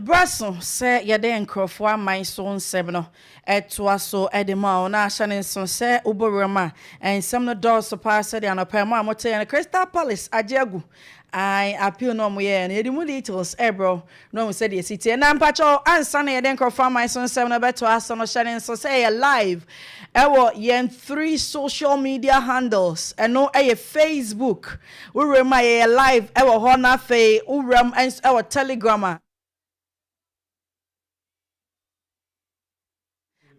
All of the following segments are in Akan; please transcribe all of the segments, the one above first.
Bere aso sɛ yɛde nkurɔfo aman so nsɛm no toa so de ma wo, na hyɛ no nsow sɛ wobɔ wuram a, nsɛm no dɔɔso paa sɛnea anɔpa yi mo a moteeɛ no Crystal Palace agye agu. Ae, appeal no a wɔyɛeɛ no, yɛde mu details rebrɛ wo na woahu sɛdeɛ ɛsi teɛ. Na mpakyɛw, ansa na yɛde nkurɔfo aman so nsɛm no rebɛtoa so no, hyɛ no nsow sɛ yɛyɛ live wɔ yɛn three social media handles, ɛno yɛ Facebook, Wo wuram a yɛyɛ live ɛwɔ hɔ na afei wo wuram nso ɛwɔ telegram a.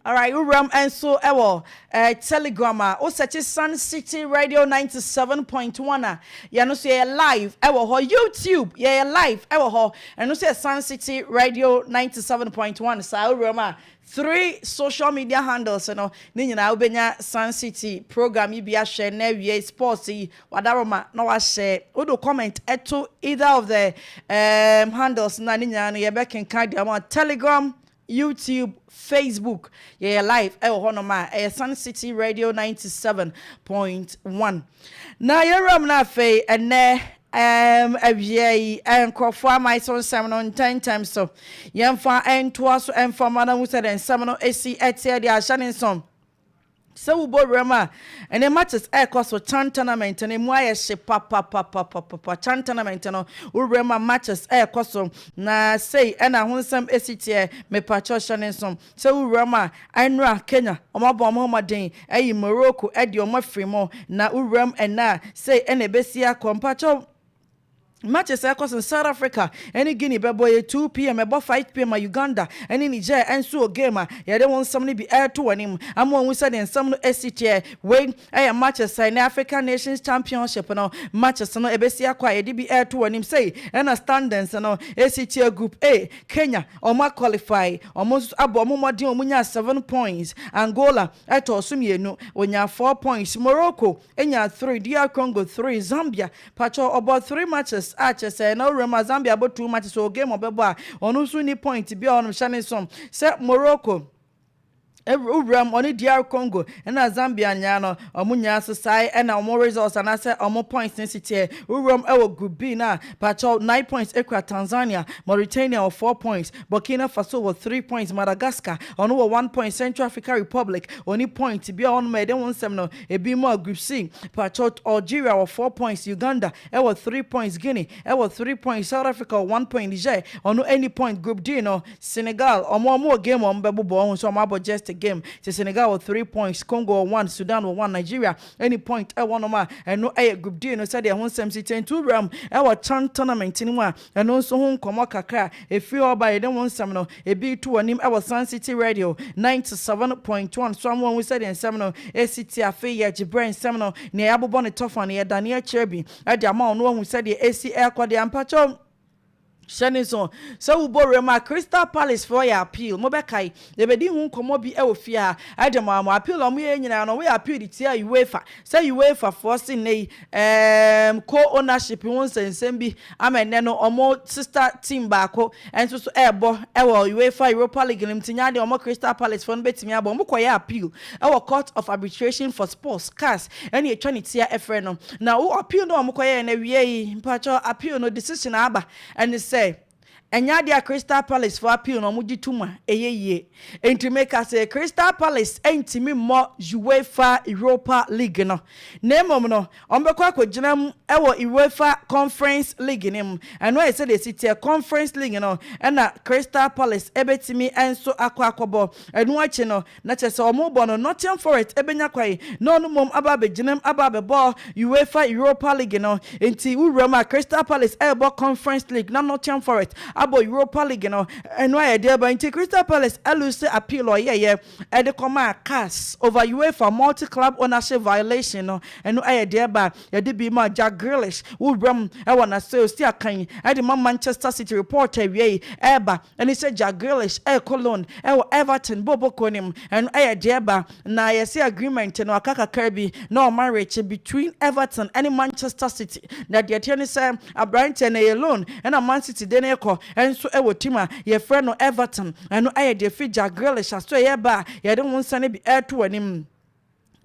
Alright, wo wuram nso ɛwɔ eh, telegram a wo sɛkye Sun City Radio 97.1 a yɛno nso yɛyɛ live ɛwɔ hɔ YouTube yɛyɛ live ɛwɔ hɔ ɛno nso yɛ Sun City Radio 97.1 saa wo wuram a Three social media handles no ne nyinaa wobɛnya Sun City program yi bi ahwɛ na awiei sports yi wadaroma na wahyɛ. Wode comment to either of the um handles no a ne nyinaa no yɛbɛkenkan de ama wo. Telegram, YouTube, Facebook, yɛyɛ live wɔ hɔnom a ɛyɛ Sun City Radio ninety seven point one. Na yɛn wuram no afei, ɛnnɛ, ɛɛm, awia yi, nkurɔfoɔ aman so nsɛm no ntɛmntɛm so. Yɛmfa ntoa so mfa mma no ahu sɛdeɛ nsɛm no si teɛ deɛ ahyɛ ne nso. Sɛ wobɔ wuram a, ɛnɛ matches ɛrekɔ so, Chan tournament no, emu ayɛ hye papapapapapa. Chan tournament no, wo wuram a matches ɛrekɔ so, na sei ɛna ho nsɛm si teɛ, mepakyɛw hyɛ ne nso. Sɛ wo wura mu a, anura Kenya, wɔn abɔ wɔn ho mmɔden ayi Morocco de wɔn afiri mu, na wo wura mu ɛnnɛ a, sei na ɛbɛsi akɔ. Mpakyɛw, matches a ɛkɔ so no, South Africa ne Guinea bɛbɔ, ɛyɛ 2 pm, ɛbɔ 5 pm ma Uganda ne Niger nso wɔ game a yɛde wɔn nsɛm no bi reto wɔn anim ama wɔahu sɛdeɛ nsɛm no si teɛ. Wei. Ɛyɛ matches a ɛne African Nations Championship no matches no ɛbɛsi akɔ a yɛde bi reto wɔn anim. Sei ɛna standings no ɛsi teɛ. Group A, Kenya, wɔn a qualify, wɔn nso abɔ wɔn mmɔden a wɔnyaa seven points. Angola ɛtɔɔ so mmienu, wɔnyaa four points. Morocco ɛnyaa three, DR Congo three, Zambia pakyɛw ɔbɔɔ three matches a kyerɛ sɛ na ɔwura mu a Zambia abɔ two matches, ɔwɔ game a ɔbɛbɔ a ɔno nso nni point biara, ɔnom hyɛ ne nso sɛ Morocco. Wuram ɔne DR Congo na Zambia nyinaa no, wɔn nyinaa nso sae na wɔn results anaasɛ wɔn points no si teɛ. Wuram wɔ Group B no a, pakyɛw nine points kura Tanzania, Mauritania wɔ four points, Burkina Faso wɔ three points, Madagascar ɔno wɔ one point, Central Africa Republic ɔnni point biara wɔnom a yɛde ho nsɛm no ebi mu a Group C pakyɛw Algeria wɔ four points, Uganda wɔ three points, Guinea wɔ three points, South Africa wɔ one point, Niger ɔno nni point, Group D no Senegal, ɔmo ɔmo wɔ game a ɔmo bɛbobɔ, ɔhu sɛ ɔmo abɔ just a game, nti Senegal wɔ three points, Congo wɔ one, Sudan wɔ one, Nigeria nni point ɛwɔ nom a ɛno ɛyɛ group D no sɛdeɛ ɛho nsɛm si teɛ, nti wo wuramu ɛwɔ chan tournament no mu a ɛno nso ho nkɔmɔ kakra a ɛfiri hɔ ba yɛde ho nsɛm no ɛbi reto wɔ anim ɛwɔ Sun City Radio ninety seven point one so ama wahu sɛdeɛ nsɛm no ɛsi teɛ afei yɛgye berɛ nsɛm no nea yɛabobɔ no tɔfa no yɛdane akyerɛ bi de ama wo na wahu sɛdeɛ ɛsi ɛrekɔ deɛ mpakyɛw Hyɛ no nso sɛ wo bɔ wuram a Crystal Palace foɔ yɛ appeal, mo bɛkae, yɛbɛdi ho nkɔmmɔ bi wɔ fie ha, ɛde mo a mo appeal a wɔn yɛeɛ nyinaa no wɔyɛ appeal de tia UEFA, sɛ UEFA foɔ se nnɛ yi ɛɛm co ownership ho nsɛnsɛm bi ama nnɛ no wɔn sister team baako nso so ɛɛbɔ wɔ UEFA Europa League no mu, nti nyɛ adeɛ wɔn Crystal Palace foɔ no bɛtumi abɔ, mo kɔyɛ appeal. ɛwɔ Court of Arbitration for Sports, Cas, ɛna ɛtwa ne tia ɛfrɛ no. Na wo appeal no a wɔn kɔyɛɛ no awia yi, mpakyɛw appeal no decision a aba ɛne sɛ, ɛnyɛ adeɛ a Crystal Palace foɔ appeal no wɔn gye tom a ɛyɛ yie. Nti me ka se Crystal Palace ɛntumi mmɔ UEFA Europa League no, na mmom no wɔn bɛkɔ akɔgyina mu ɛwɔ UEFA Conference League no mu. Ɛno ɛyɛ sɛdeɛ ɛsi teɛ, Conference League no ɛna Crystal Palace ɛbɛtumi ɛnso akɔ akɔbɔ. Ɛno akyi no Na kyerɛ sɛ wɔrebɔ no, Nottingham Forest bɛnya kwan na ɔno mmom aba abɛgyinam aba abɛbɔ Uefa Europa League no. Enti wo wuram a, Crystal Palace rebɔ Conference League na Nottingham Forest abɔ Europa League no, ɛno ayɛ deɛ bɛn? Enti Crystal Palace alose appeal a ɔyɛeɛ de kɔmaa CAS over Uefa Multi Club Ownership Violation no, ɛno ayɛ deɛ bɛn? Yɛde bi maa Jack Grealish, wo wuram wɔ n'asɛe a ɔsi akan de ma Manchester City, report a awiei reba. Ɛne sɛ Jack Grealish rekɔ loan wɔ Everton bɔ bɔ kuo no mu. Ɛno yɛ deɛ ɛba. Na yɛse agreement no aka kakra bi na ɔma rekye between Everton ne Manchester City. Na deɛ ɛteɛ ne sɛ abranteɛ no ɛyɛ loan na Man City de no rekɔ nso wɔ team a yɛfrɛ no Everton. Ɛno yɛ deɛ ɛfiri Jack Grealish asoɛeɛ ba a yɛde wo nsɛm no bi reto w'anim.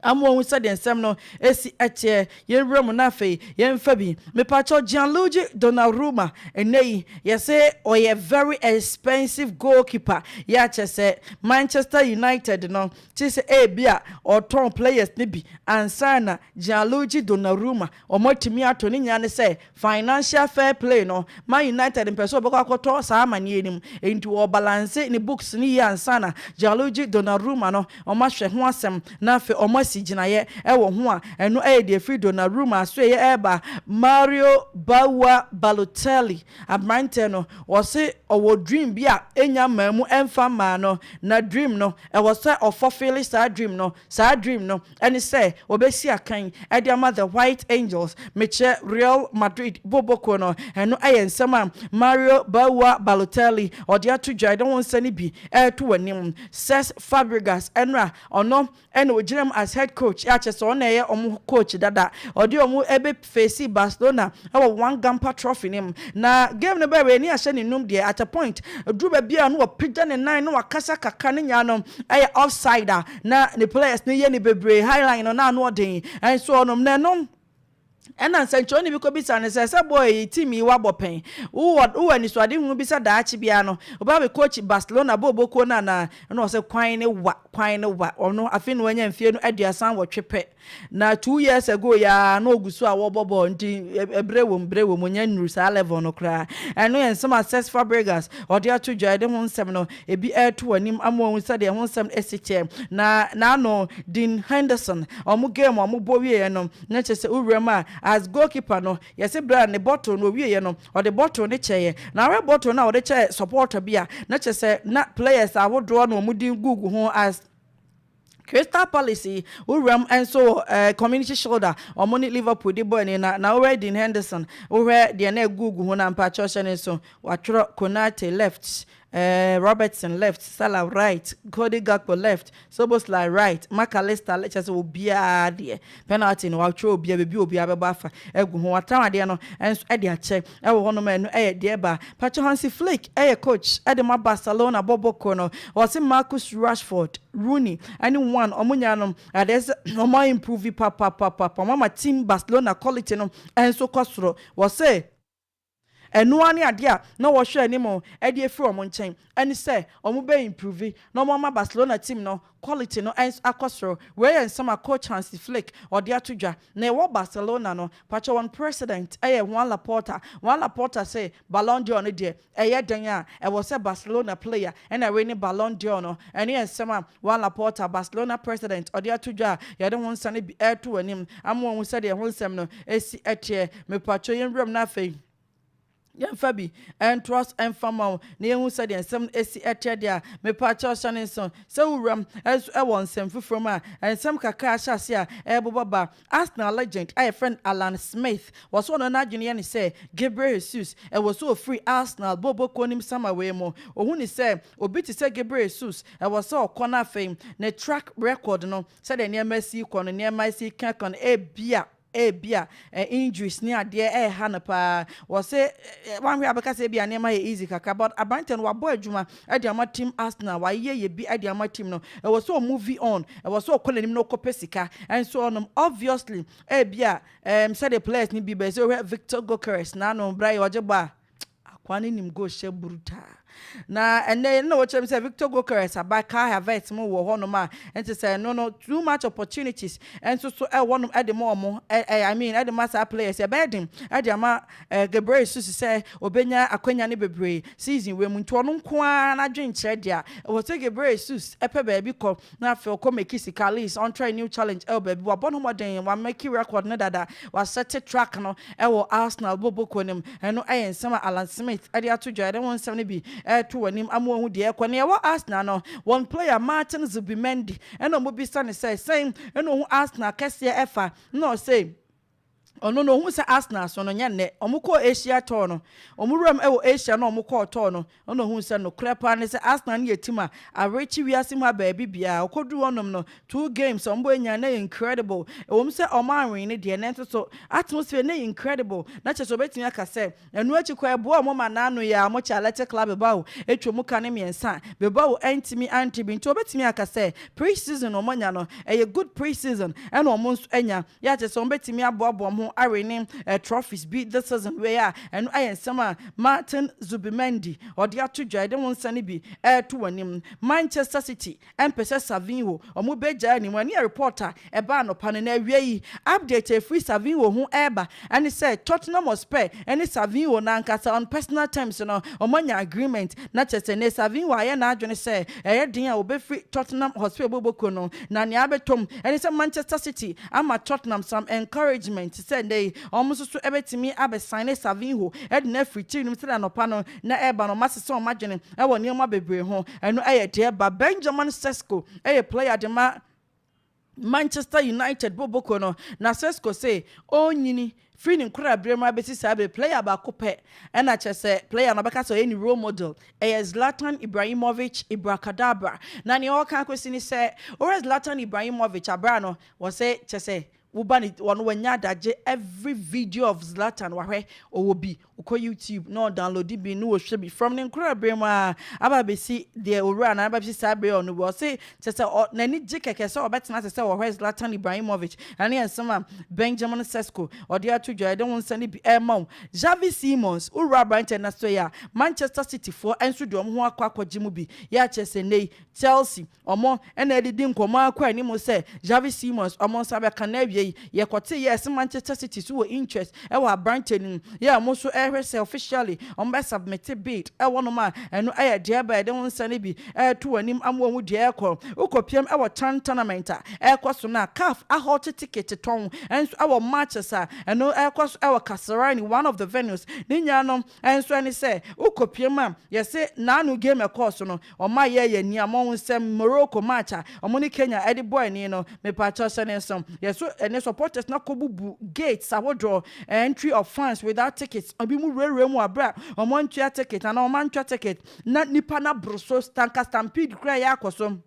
Ama wɔahu sɛdeɛ nsɛm no si teɛ. Yɛnwura mu na afei yɛmfa bi. Mepakyɛw, Gianluigi Donnarumma, ɛnnɛ yi yɛse ɔyɛ very expensive goalkeeper yɛ a kyerɛ sɛ Manchester United no te sɛ ebia wɔtɔn players no bi ansa na Gianluigi Donnarumma wɔatumi atɔ ne nyinaa ne sɛ Financial fair play no ma United mpɛ sɛ ɔbɛkɔ akɔtɔ saa amaneɛ no mu, enti ɔɔbalanse ne books no yie ansa na Gianluigi Donnarumma no wɔahwɛ ho asɛm na afei wɔasi gyinaeɛ wɔ ho a ɛno yɛ deɛ ɛfiri Donnarumma asoɛeɛ reba Mario Baua Balotelli. Aberanteɛ no, wɔse ɔwɔ dream bi a ɛnnya mmaa mu ɛmfa mmaa no, na dream no, ɛwɔ sɛ ɔfɔfeele saa dream no, saa dream no, ɛne sɛ wɔbɛsi akan de ama The White Angels, mekyerɛ Real Madrid booboo kuo no. Ɛno yɛ nsɛm a Mario Baua Balotelli ɔde ato dwa, ɛde ho nsɛne bi reto w'anim. Cesc Fabregas ɛno a ɔno na ɔgyina mu as head coach, a kyerɛ sɛ ɔno na ɛyɛ wɔn coach dada, ɔde wɔn bɛ facee Barcelona wɔ One Gamper Trophy no mu. Na game no bɛwee ne ahyɛ ne num deɛ, at a point ɛduru baabi a na wapagya ne nan na wakasa kakra ne nyaa no ɛyɛ offside a na ne players no yɛ no bebree, high line no na ano ɔden nso ɔnom na ɛnom. Ɛna nsɛnkyerɛwni bi kɔbisaa no sɛ, sɛ boy yi, team yi woabɔ pɛn? Wowɔ wowɔ anisoadehunu bi sɛ daakye biara no wobɛba abɛ coach Barcelona booboo kuo no anaa? Ɛna ɔse kwan ne wa, kwan ne wa. Ɔno afei na wanya mfeɛ no aduasa nwɔtwe pɛ. Na two years ago yi ara na ɔgu so a wɔbɔ bɔɔl nti berɛ wom berɛ wom ɔnya nnuru saa level no koraa. Ɛno yɛ nsɛm a Cesc Fabregas ɔde ato dwa. Yɛde ho nsɛm no ebi reto w'anim ama wahu sɛdeɛ ɛho nsɛm no si teɛ. Na n'ano Dean Henderson wɔn game a wɔbɔ wieeɛ no na kyerɛ sɛ wowura mu a as goalkeeper no yɛse berɛ a ne bottle no ɔwieeɛ no ɔde bottle no kyɛeɛ na wohwɛ bottle no a ɔde kyɛɛ supporter bi a na kyerɛ sɛ na players ahodoɔ na wɔn din gugu ho as Crystal Palace wo wuram nso wɔ eh, Community Shoulder wɔn ne Liverpool de bɔ ani na na wohwɛ Dean Henderson wohwɛ deɛ na ɛgugu ho na mpa kyerɛw hyɛ ne nso watwerɛ Konate left eh, Robertson left Salah right Cody Gakpo left Soboslai right Mac Allister left kyerɛ sɛ obiara deɛ Penalty no, wɔatwerɛ obiara, baabi a obiara bɛbɔ afa agu ho. Wɔatram adeɛ no nso de akyɛ wɔ hɔnom a ɛno yɛ deɛ ɛbaa. Pacho Hansi Flick yɛ coach de ma Barcelona bɔbɔ koro no. Wɔse Marcus Rashford, Rooney ne Wan wɔn nyinaa no adeɛ sɛ wɔn a improve papapapapa. Wɔn ama team Barcelona quality no nso kɔ soro. Wɔse. Ɛno ara ne adeɛ a na wɔhwɛ anim de afiri wɔn nkyɛn ɛne sɛ wɔn bɛ improve na wɔn ama Barcelona team no quality no nso akɔ soro. Wei yɛ nsɛm a coach Hansi Flick ɔde ato dwa. Na ɛwɔ Barcelona no, pakyɛ wɔn president yɛ Juan Laporta. Juan Laporta se Ballon d'Or no deɛ ɛyɛ dɛn a ɛwɔ sɛ Barcelona player na wini Ballon d'Or no. Ɛno yɛ nsɛm a Juan Laporta, Barcelona president ɔde ato dwa a yɛde ho nsɛm no bi reto w'anim ama wahu sɛdeɛ ɛho nsɛm no si teɛ. Mepakyɛw yɛn wuram na afei yɛmfa bi ntoa so mfa ma wo na yɛhu sɛdeɛ nsɛm no ɛsi ɛteɛ deɛ a mepakyɛw hyɛ ne nso sɛ wo wuram nso ɛwɔ nsɛm foforɔ mu a nsɛm kakra ahyɛ ase a ɛrebobɔ ba Arsenal legend a yɛfrɛ no Alan Smith wɔ so ɔno n'adwene yɛ ne sɛ Gabriel Jesus ɛwɔ so ɔfiri Arsenal bɔɔbɔ kuo nim sama wei mu ɔhu ne sɛ obi te sɛ Gabriel Jesus ɛwɔ sɛ ɔkɔ no afei ne track record no sɛdeɛ nneɛma si kɔ no nneɛma si kɛkɔ no ebia Ebia injuries ne adeɛ ɛreha no paa. Wɔse woanhwɛ a wobɛka sɛ ebia nneɛma yɛ easy kakra but aberanteɛ no wabɔ adwuma de ama team Arsenal, wayeyɛ yɛ bi de ama team no. Ɛwɔ sɛ ɔ move on, ɛwɔ sɛ ɔkɔ n'anim na ɔkɔpɛ sika. Nso ɔnom obviously ebia sɛdeɛ players no bi bɛyɛ, sɛ wohwɛ Viktor Gyökeres n'ano berɛ a ɔgye bɔ a, Akoa no nim go hyɛ burutaa. Na ɛnnɛ yɛn na wɔkyerɛ me sɛ Victor Gokeres aba Kai Havertz mo wɔ hɔnom a ɛnte sɛ ɛno no too much opportunities nso so ɛwɔ hɔnom de ma wɔn ɛ I mean de ma saa players yi ɛbɛyɛ den de ama ɛ Gabriel Jesus sɛ ɔbɛnya akwanya no bebree season wei mu nti ɔno nko ara n'adwene nkyerɛ deɛ a ɛwɔ sɛ Gabriel Jesus pɛ baabi kɔ Na afei ɔkɔ Mekisikalis, ɔntrae New Challenge ɛwɔ baabi. Wabɔ no mmɔden, wamɛki rɛkɔd no dada, wasɛte trak no ɛwɔ Arsenal bɔ bɔkuo no mu. Ɛno ɛyɛ nsɛm a Alan Smith ɛde ato dwa. Yɛde ho nsɛm no bi ɛreto w'anim ama woahu deɛ ɛrekɔ. Nea ɛwɔ Arsenal no, wɔn player Martin Zubimendi, ɛna wɔbisa no sɛ sɛn na ɔhu Arsenal kɛseɛ ɛfa, na ɔse, Ɔno no, ohuu sɛ Arsenal so no, nyɛ nnɛ. Wɔkɔɔ Asia tɔɔ no. Wɔn wuram wɔ Asia na wɔkɔɔ tɔɔ no. Ɔno ohuu sɛ nokorɛ paa ne sɛ Arsenal no yɛ team a awerekye wiase mu a baabi biara. Ɔkɔduruu hɔnom no, two games a wɔbɔɔnyaa no yɛ incredible. Ɛwom sɛ wɔanwen no deɛ, nanso so atmosphere no yɛ incredible. Na kyerɛ sɛ obetumi aka sɛ Ɛno akyi kɔ ɛboa ɔmo ma naano yɛ a ɔmo kyɛ alɛte kla beba o etwa mu ka ne miɛnsa beba o ɛntimi antre bi nti ɔbɛtumi aka sɛ pre season ɔmo anya no ɛyɛ good pre season ɛna ɔmo nso anya yɛ a kyɛsɛ ɔmo bɛtumi aboaboa ɔmo ho awe ne trophies bi this season wei a ɛno ayɛ nsɛm a Martin Zubimendi ɔde ato dwa yɛde ho nsa no bi ɛɛto w'anim Manchester city Ɛmpɛ sɛ Savinho ɔmo bɛgyae anim no ɛneɛ report a ɛbaa anɔpa no na awia yi update a ɛfiri Savinho ho ɛreba ɛne sɛ Tottenham Hotspur ɛne Savinho no ankasa on personal terms no ɔmo anya agreement na kyerɛ sɛ nnɛ Savinho ayɛ n'adwene sɛ ɛyɛ den a ɔbɛfiri Tottenham Hotspur bɔ bɔkuo no na nea abɛtɔ mu ɛne sɛ Manchester City ama Tottenham some encouragement sɛ nnɛ yi ɔmo nso so ɛbɛtumi abɛ signe Savinho de no afiri tiri no mu sɛdeɛ anɔpa no na ɛreba no, masesa wɔn adwene wɔ nneɛma bebree ho. Ɛno yɛ deɛ ɛba. Benjamin Sesko yɛ player de ma Manchester United bobokuo no, na Sesko se ɔrenyini firi ne nkoraberɛ mu abɛsi saa bere, player baako pɛ na kyerɛ sɛ player no ɔbɛka sɛ ɔyɛ ne role model, ɛyɛ Zlatan Ibrahimovic Ibracadabra. Na nea ɔreka akɔsi ne sɛ, wohwɛ Zlatan Ibrahimovic abere a no, wɔse kyerɛ sɛ Wo ba no ɔno wanya adagye every video of Zlatan wahwɛ ɔwɔ bi ɔkɔ YouTube na ɔdownloadi bi na ɔhwɛ bi from ne nkora bere mu aa aba abɛsi deɛ owura no aba abɛsi saa bere a ɔno wɔ ɔse kyɛ sɛ ɔ n'ani gye kɛkɛ sɛ ɔbɛtena ase sɛ ɔhwɛ Zlatan Ibrahimovic ɛne nsɛm a Benjamin Sesko ɔde ato dwa yɛde ho nsɛm no bi ɛrema wo Xavi Simons wo wura aberanteɛ no asɔ yi a Manchester City foɔ nso de wɔn ho akɔ akɔgye mu bi yɛ akyerɛ sɛ nnɛ yi Chelsea Wɔn na ɛdidi nkɔmmɔ ara kɔ anim sɛ Xavi Simões, wɔn nsa bɛka no awiei. Yɛkɔtee yɛɛ se Manchester City so wɔ interest wɔ aberante no mu, yɛɛ wɔn nso rehwɛ sɛ officially wɔbɛ submit bid wɔ nom a, ɛno yɛ deɛ ɛba a yɛde wo nsa no bi reto w'anim ama wahu deɛ ɛrekɔ. Wokɔpiam wɔ chan tournament a ɛrekɔ so no a, caf ahote ticket tɔn nso wɔ matches a ɛno rekɔ so wɔ Kasarani, one of the venues, ne nyinaa no, Nso ɛne sɛ wokɔpiam a, yɛse n'ano game ɛkɔɔ so no, ɔma yɛɛ yɛn nia mɔ wo nsɛm Morocco match a ɔmo ne Kenya ɛde bɔ ani no, mepakyɛw sɛ ne nso yɛso ɛne supporters no akɔ bubu gates ahodoɔ, entry of fans without tickets, ebi mo wurawura mu wɔ bere a ɔmo antua ticket anaa ɔmo antwa ticket na nipa no aboro so, tanka stampede koraa ɛyɛ akɔ so.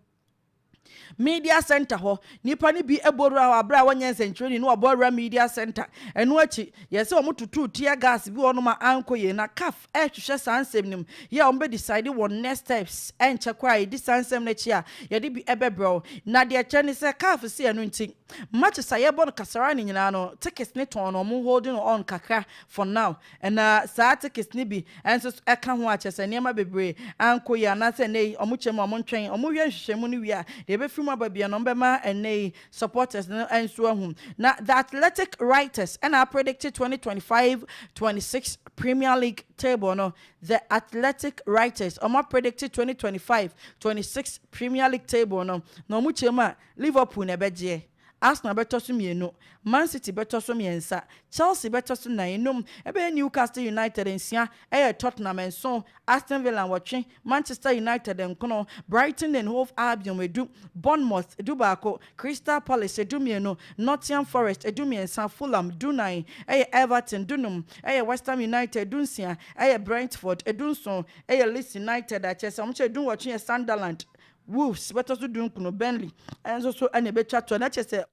Media Center hɔ. Nnipa no bi bɔ wura hɔ bere a wɔnyɛ nsɛnkyerɛnne na wɔbɔ wura Media Center. Ɛno akyi, yɛɛ sɛ wɔtotoo tear gas bi wɔ hɔnom a ankɔ yie. Na caf rehwehwɛ saa nsɛm no mu. Yɛ a wɔbɛdecide wɔn next steps nkyɛ koraa a yɛdi saa nsɛm no akyi a, yɛde bi bɛbrɛ wo. Na deɛ ɛkyerɛ ne sɛ caf se ɛno nti, matches a yɛbɔ no Kasaraani nyinaa no, tickets no tɔn na wɔn holding on kakra for now. Ɛna saa tekes no bi nso so ka ho a, kyerɛ sɛ nneɛma bebree ankɔ yie anaasɛ nnɛ yi wɔkyɛ mu a wɔntwɛn, wɔyɛ nhwehwɛmu no wie a, deɛ ɛbɛfiri mu aba biara no wɔbɛma nnɛ yi supporters no nso ahu. Na The Athletic writers na apredikte twenty twenty five, twenty six Premier League table no. The Athletic writers wɔapredikte twenty twenty five, twenty six Premier League table no, na wɔkyɛ mu a, Liverpool na ɛbɛgyeɛ. Arsenal bɛtɔ so mmienu, Man City bɛtɔ so mmiɛnsa, Chelsea bɛtɔ so nnan, nnum ɛbɛyɛ Newcastle United nsia ɛyɛ Tottenham nson, Aston Villa nwɔtwe, Manchester United nkono, Brighton and Hove Albion edu, Bournemouth dubaako, Crystal Palace dummienu, Nottingham Forest dummiɛnsa, Fulham dunnan ɛyɛ Everton dunum ɛyɛ West Ham United dunsia ɛyɛ Brentford dunson ɛyɛ Leeds United a kyerɛ sɛ wɔn kyɛ dunwɔtwe yɛ Sunderland Wolves bɛtɔ so dunkron no Burnley nso so na ɛbɛtwa toɔ na kyerɛ sɛ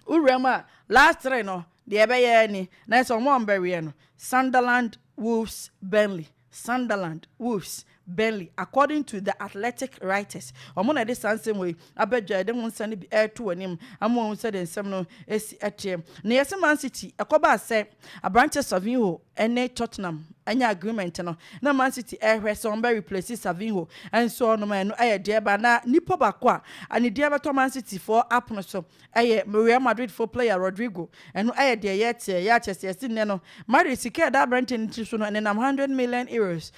wo wuram a last three no deɛ ɛbɛyɛ ni na yɛ sɛ wɔn a wɔbɛweɛ no Sunderland Wolves Burnley Sunderland Wolves Burnley according to the Athletic writers wɔn na ɛde saa nsɛm wɔ yi abɛdwa ɛde ho nsɛm no bi ɛreto anim ama wɔn sɛ deɛ nsɛm no ɛsi ɛteɛ na yɛsɛ Man City ɛkɔba sɛ Aberanteɛ Savinho ne Tottenham anya agreement no na Man City rehwɛ sɛ wɔbɛ replace Savinho nso ɔnom a ɛno yɛ deɛ ba na nipa baako a anidie bɛtɔ Man City foɔ apono so yɛ Real Madrid foɔ player Rodrygo ɛno yɛ deɛ yɛteɛ yɛakyɛ sɛ yɛsi nnɛ no Madrid sika ɛda aberanteɛ no tiri so no ɛnenam 100 million euros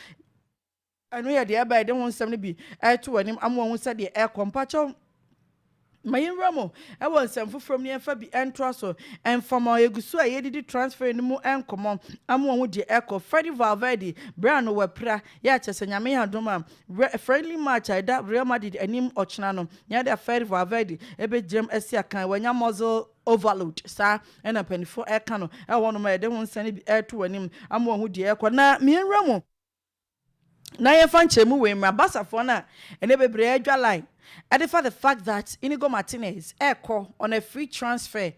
Ɛno yɛ deɛ ɛba yɛde ho nsɛm no bi ɛreto w'anim ama wahu sɛdeɛ ɛrekɔ. Mpakyɛw ma yɛnwura mu wɔ nsɛm foforɔ mu na yɛmfa bi ntoa so. Ɛmfa ma yɛgu so a yɛredidi transferi no mu nkɔmmɔ ama wahu deɛ ɛrekɔ. Freddy Valverde berɛ ano wapira yɛ a kyerɛ sɛ Nyame yɛ adom a friendly match a ɛda Real Madrid anim ɔkyena no yɛ de a Freddy Valverde ɛbɛgyinam asi akan. Wanya muscle overload saa ɛna mpaninfoɔ ɛreka no ɛwɔ hɔnom a yɛde ho nsɛm no bi ɛreto w'anim ama wahu deɛ ɛrekɔ. Na ma yɛnwura mu. na yɛmfa nkyerɛmu wei mmra Basafoɔ no a ɛnnɛ bebree adwa line de fa the fact that Inigo Martinez rekɔ on a free transfer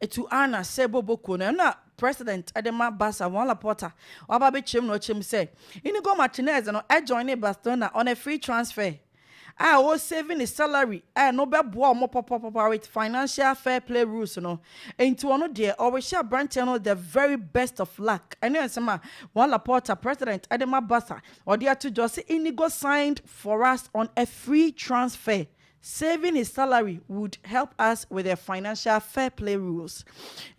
to Al Nassr bɔbɔ kuo no. Ɛno na President de ma Barca Juan Laporta waba abɛkyerɛm na ɔkyerɛm sɛ Inigo Martinez no joinee Barcelona on a free transfer. a ɔ save ne salary a no bɛ boa ɔmo pɔpɔpɔpɔ with financial fair play rules no nti ɔno deɛ ɔrehyɛ abranteɛ no the very best of luck ɛne nsɛm a Juan Laporta president de ma Barca ɔde ato dwa sɛ Inigo signed for us on a free transfer saving his salary would help us with the financial fair play rules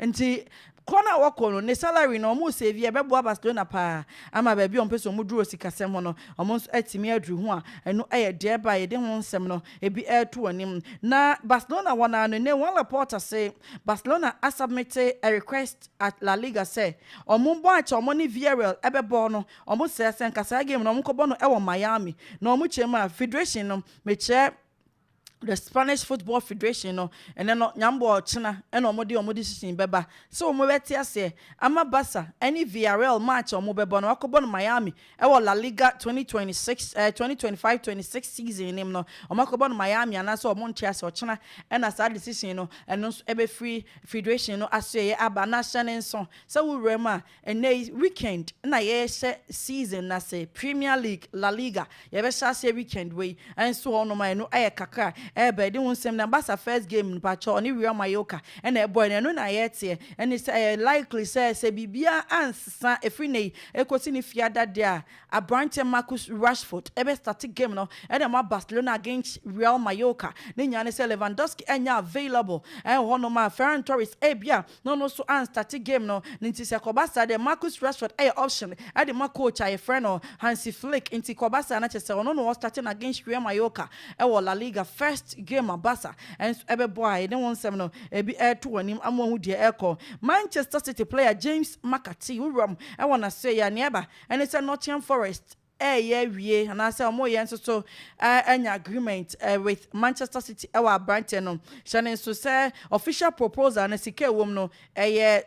nti Kɔ no a wɔkɔ no, ne salary no wɔn save yɛ bɛboa Barcelona paa ama baabi a wɔpɛ sɛ wɔn duru wɔ sikasɛm ho no wɔn nso atumi aduru ho a ɛno yɛ deɛ ɛba a yɛde ho nsɛm no bi reto anim. Na Barcelona wɔn ara no nnɛ Juan Laporta se Barcelona a submit a request at La Liga sɛ wɔn bɔ akyɛ wɔn ne Villarreal bɛbɔ no wɔn srɛ sɛ nka saa game no wɔn nkɔbɔ no wɔ Miami na wɔn kyɛ mu a federation no mekyerɛ The Spanish Football Federation no ɛnɛ no nyambɔ ɔkyena ɛna ɔmo de ɔmo decision bɛba sɛ ɔmo bɛte aseɛ ama Barca ɛne Villarreal match a ɔmo bɛbɔ no wakɔbɔ no Miami ɛwɔ La Liga twenty twenty six ɛɛ twenty twenty five twenty six season nim no ɔmo akɔbɔ no Miami anaasɛ ɔmo nte ase ɔkyena ɛna saa decision no ɛno nso ɛbɛfiri federation no asoɛyɛ aba na hyɛ ne nso sɛ wo wura mu a Ɛnnɛ yi weekend na yɛrehyɛ season no ase, Premier League, La Liga, yɛbɛhyɛ aseɛ weekend wei nso hɔ nom a ɛno yɛ kakra ɛreba yɛde ho nsɛm nam Barca first game no pakyɛw ɔne Real Mallorca na ɛbɔɛ no ɛno na yɛreteɛ ɛne sɛ ɛyɛ likely sɛ sɛ biribiara ansesa ɛfiri nnɛ yi ɛkɔsi ne fiada deɛ a aberanteɛ Marcus Rashford bɛ starte game no ɛde ama Barcelona against Real Mallorca ne nyinaa ne sɛ Lewandowski ɛnyɛ available ɛwɔ hɔ nom a Ferran Torres ɛbia na ɔno so an starte game no no nti sɛ kɔba saa deɛ Marcus Rashford yɛ option de ma coach a yɛfrɛ no Hansi Flick nti kɔba saa na kyerɛ sɛ ɔno na ɔ starte no against Real Mallorca wɔ La Liga first game a Barca nso ɛbɛbɔ a yɛne wo nsɛm no ebi ɛreto w'anim ama wahu deɛ ɛrekɔ Manchester City player James McCarthy wuram wɔ n'asoɛeɛ a nea ɛba ɛne sɛ Nottingham Forest reyɛ awie anaasɛ wɔn reyɛ nso so anya agreement with Manchester City wɔ aberanteɛ no hyɛ no nso sɛ official proposal no sika ɛwɔ mu no ɛyɛ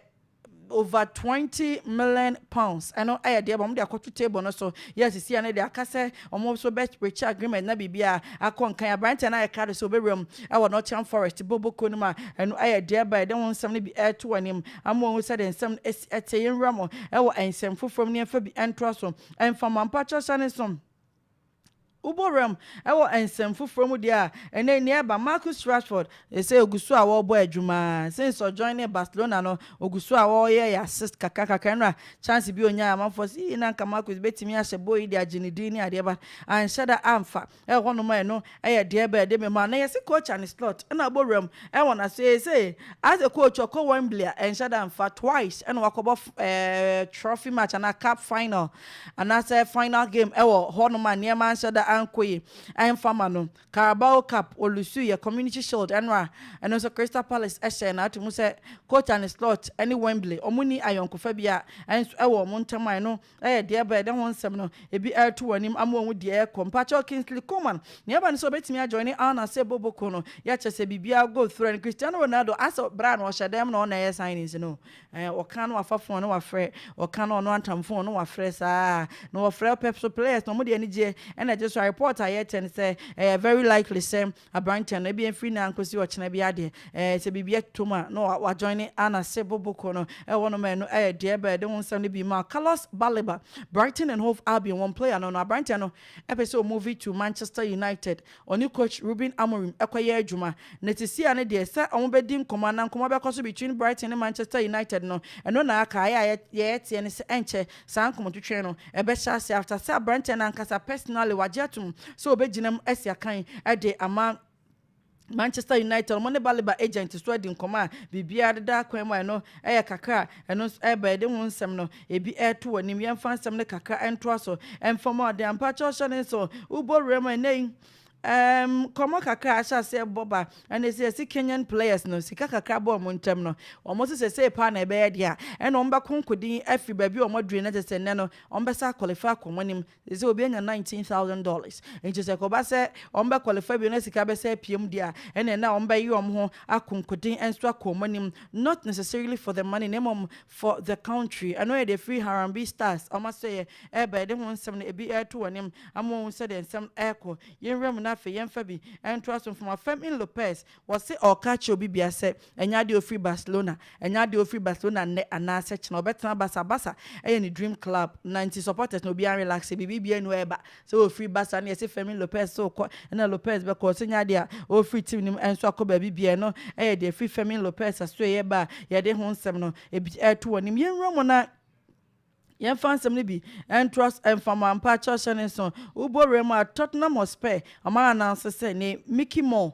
over twenty million pounds ɛno ɛyɛ deɛ wɔn de akɔto table no so yɛ sisi ɛno deɛ aka sɛ wɔn nso bɛ rekyɛ agreement na biribi a akɔ nkan aberanteɛ no ayɛ kra do sɛ ɔbɛwura mu ɛwɔ Nottingham Forest boboko no mu a ɛno ɛyɛ deɛ ɛbɛn ɛde ho nsɛm no bi ɛreto anim ama wɔn sɛ de nsɛm ɛsi ɛte yɛn wura mu ɛwɔ nsɛm foforɔ mu ne ɛfa bi ɛntoa so Mfama mpakyɛw hyɛ ne som. Wobɔ wuram wɔ nsɛm foforɔ mu deɛ a, ɛnnɛ nea ɛreba, Marcus Rashford, seesei ɔgu so a wɔrebɔ adwuma ara. Since ɔjoinee Barcelona no, ɔgu so a ɔreyɛ assist kakra kakra. Ɛnora chance bi a ɔnyaeɛ, amanfoɔ se, Ee, na anka Marcus bɛtumi ahyɛ bɔ yi de agye ne din ne adeɛ, but anhyɛ da amfa. Ɛwɔ hɔnom a ɛno yɛ deɛ ɛbɛɛ de me ma. Na yɛse coach Arne Slot na abɔ wuram wɔ n'ase sei. As a coach ɔkɔ Wembley a ɛnhyɛ da mfa. Twice ɛna wakɔbɔ trophy match anaa cup final anaasɛ final game ɛwɔ hɔnom a nneɛma anhyɛ da ankɔ yie ɛmfa ma no. Carabao Cup ɔlusuiɛ, Community Shield ɛno a ɛno nso Crystal Palace ɛhyɛɛ no ato mu sɛ coach Arne Slot ɛne Wembley wɔn nni ayɔnkofa biara nso ɛwɔ wɔn ntam a ɛno Ɛyɛ deɛ ɛbɛyɛ dɛ ho nsɛm no ebi ɛreto wɔn anim ama wɔahu deɛ ɛrekɔ. Mpakyɛw Kingsley Coman, nea ɛba ne sɛ ɔbɛtumi ajoine Al Nassr bɔ bɔ ko no, yɛ kyerɛ sɛ biribiara go through ɛne Cristiano Ronaldo asɛ bere a na ɔhyɛ dɛn mu na ɔnna ɛyɛ signings no ɛɛ ɔka na wafa phone na wafrɛ ɔka na ɔno antam phone no wafrɛ saa na wɔfrɛ pɛp so players na wɔn de anigyeɛ ɛna ɛgye so a report a yɛkyɛ ne sɛ ɛyɛ very likely sɛ Aberanteɛ no, ebia mfiri nnɛ ankɔsi ɔkyena biara deɛ, ɛɛ, sɛ biribi ɛtɔ mu a, na wa, wa joine Ana se Boboko no ɛwɔ no ma ɛno ɛyɛ deɛ ɛbɛ ɛde ho nsɛm no bi ma wo. Carlos Baleba, Brighton and Hove Albion wɔn player no no, aberanteɛ no ɛpɛ sɛ ɔ move to Manchester United, ɔne coach Ruben Amorim ɛkɔ yɛ adwuma. Na sisi a no deɛ, sɛ wɔn bɛ di nkɔmmɔ anaa nkɔmmɔ bɛkɔ so between Brighton ne Manchester United no, ɛno na aka, ayɛ a yɛ, yɛ ɛteɛ ne sɛ ɛnkyɛ Saa nkɔmɔtwetwe no bɛhyɛ ase after sɛ abranteɛ no ankasa personally wagye atom sɛ ɔbɛgyina mu asi akan de ama Manchester United. Wɔn ne Baleba agent nso adi nkɔmɔ a biribiara deda akwan mu a ɛno yɛ kakra a ɛno nso ɛreba. Yɛde ho nsɛm no ebi reto w'anim. Yɛmfa nsɛm no kakra ntoa so. Mfɔmɔden ampa kyɛ ɔhyɛ ne nso wobɔ wuram ɛnnɛ yi. Erm nkɔmɔ kakra a ahyɛ aseɛ bɔ ba ɛna ɛsɛ yɛsi Kenyan players no sika kakra bɔ wɔn ntɛm no wɔn so sɛsɛɛ paa na ɛbɛyɛ deɛ a ɛna wɔn bɛko nkodin afiri baabi a wɔn aduru no kyɛ sɛ nnɛ no wɔn bɛsa akɔlifa akɔ wɔn anim sɛsɛ obi anya nineteen thousand dollars nti sɛ kɔba sɛ wɔn bɛkɔlifa bio na sika bɛsa apiem deɛ a ɛna ɛna wɔn bɛyi wɔn ho ako nkodin nso akɔ wɔn anim not necessarily for the money na mmom for the country ɛno yɛ deɛ ɛfiri Harambee Stars wɔn asɛeɛ ɛreba yɛde ho nsɛm no ɛbi ɛreto wɔn anim ama wɔahu sɛdeɛ nsɛm no ɛrekɔ yɛn nwura mu na afei yɛmfa bi ntoa so mfama Fermin Lopez wɔse ɔreka akyerɛ obi biara sɛ ɛnyɛ adeɛ a ɔfiri Barcelona ɛnyɛ adeɛ a ɔfiri Barcelona nnɛ anaasɛ kyena ɔbɛtena Barca Barca ɛyɛ ne dream club na nti supporters no obiara relaxe biribi biara nni hɔ ɛreba Sɛ wofiri Basan na yɛse Fermin Lopez se wokɔ na Lopez bɛkɔ ɔse nyɛ adeɛ a ɔrefiri team no mu ɛnso akɔ baabi biaa ɛno ɛyɛ deɛ ɛfiri Fermin Lopez asoɛeɛ ba a yɛde ho nsɛm no bi ɛreto w'anim. Yɛnwura mu na yɛmfa nsɛm no bi ntoa so ɛmfa mu ampa Chelsea ne nso wobɔ wura mu a Tottenham Hotspur wɔn a announce sɛ ne Mickey Moore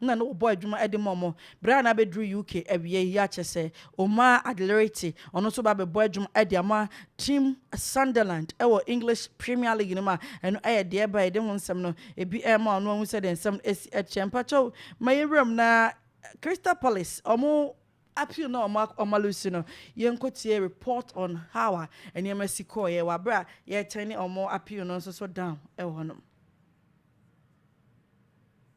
na na wɔbɔ adwuma de ma wɔn. Bere a na abeduru UK awiei yi akyɛ sɛ Omar Adlerite, ɔno nso ba bɛbɔ adwuma de ama team Sunderland wɔ English Premier League no mu a ɛno yɛ deɛ ɛba a yɛde ho nsɛm no ebi rema ɔno ahu sɛdeɛ nsɛm no asi teɛ. Mpakyɛw ma yɛnwura mu na Crystal Palace wɔn appeal na wɔn wɔn alusu no yɛnkɔtie report on how a nneɛma si kɔɔeɛ wɔ abere a yɛretɛn ne wɔn appeal no nso so down wɔ hɔnom.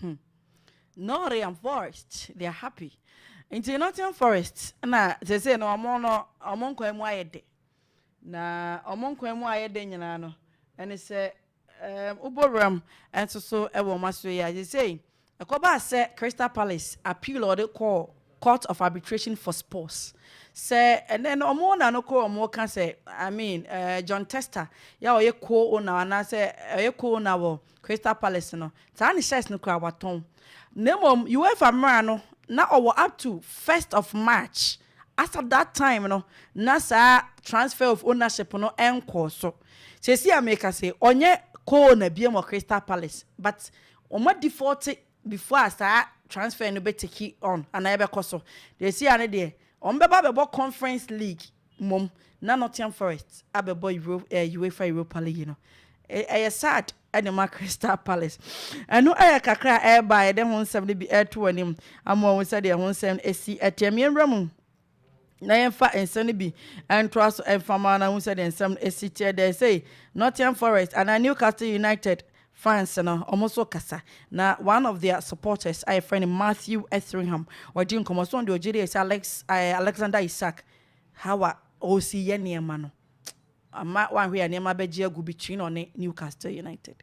Hmm. Nottingham Forest, they are happy. Nti Nottingham Forest na sese no ɔmo no ɔmo nkwan mu ayɛ de. Na ɔmo nkwan mu ayɛ de nyinaa no ɛne sɛ ɛɛm wobɔ wuram nso so ɛwɔ ɔmo aso yi a sese ɛkɔba sɛ Crystal Palace appeal ɔde kɔɔ Court of Arbitration for Sports sɛ ɛnɛ no ɔmo na no kɔ ɔmo ka sɛ I mean ɛɛ John Tester yɛ a ɔyɛ co-owner anaasɛ ɔyɛ co-owner wɔ Crystal Palace no taa ne shirts no koraa wɔatɔn na mmom UEFA mmara no na ɔwɔ up to first of March as at that time no na saa transfer of ownership no nkɔɔ so. Seesei a merekasa yi ɔnyɛ co-owner biom wɔ Crystal Palace but wɔn a default before a saa transfer no bɛ take on anaa ɛbɛkɔ so. Deɛ ɛsi ha no deɛ, wɔn bɛba abɛbɔ Conference League mmom na Nottingham Forest abɛbɔ Euro eh, UEFA Europa League no. Ɛ- Ɛyɛ sad ɛde ma Crystal Palace. Ɛno ɛyɛ kakra a ɛreba a yɛde ho nsɛm no bi ɛreto w'anim ama wɔn sɛdeɛ ho nsɛm no ɛsi ɛteɛ. Meɛnwura mu. na yɛmfa nsɛm no bi ntoa so mfa ma na hu sɛ deɛ nsɛm no esi teɛ dɛ sei Nottingham Forest anaa Newcastle United fans no wɔn nso kasa na one of their supporters a yɛfrɛ no Matthew Etheringham wɔgye nkɔmɔ so deɛ ɔgye deɛ sɛ Alex eh, Alexander Isak how a ɔresi yɛ nneɛma no ama wanhwɛ yɛ nneɛma bɛgye agu between ɔne Newcastle United.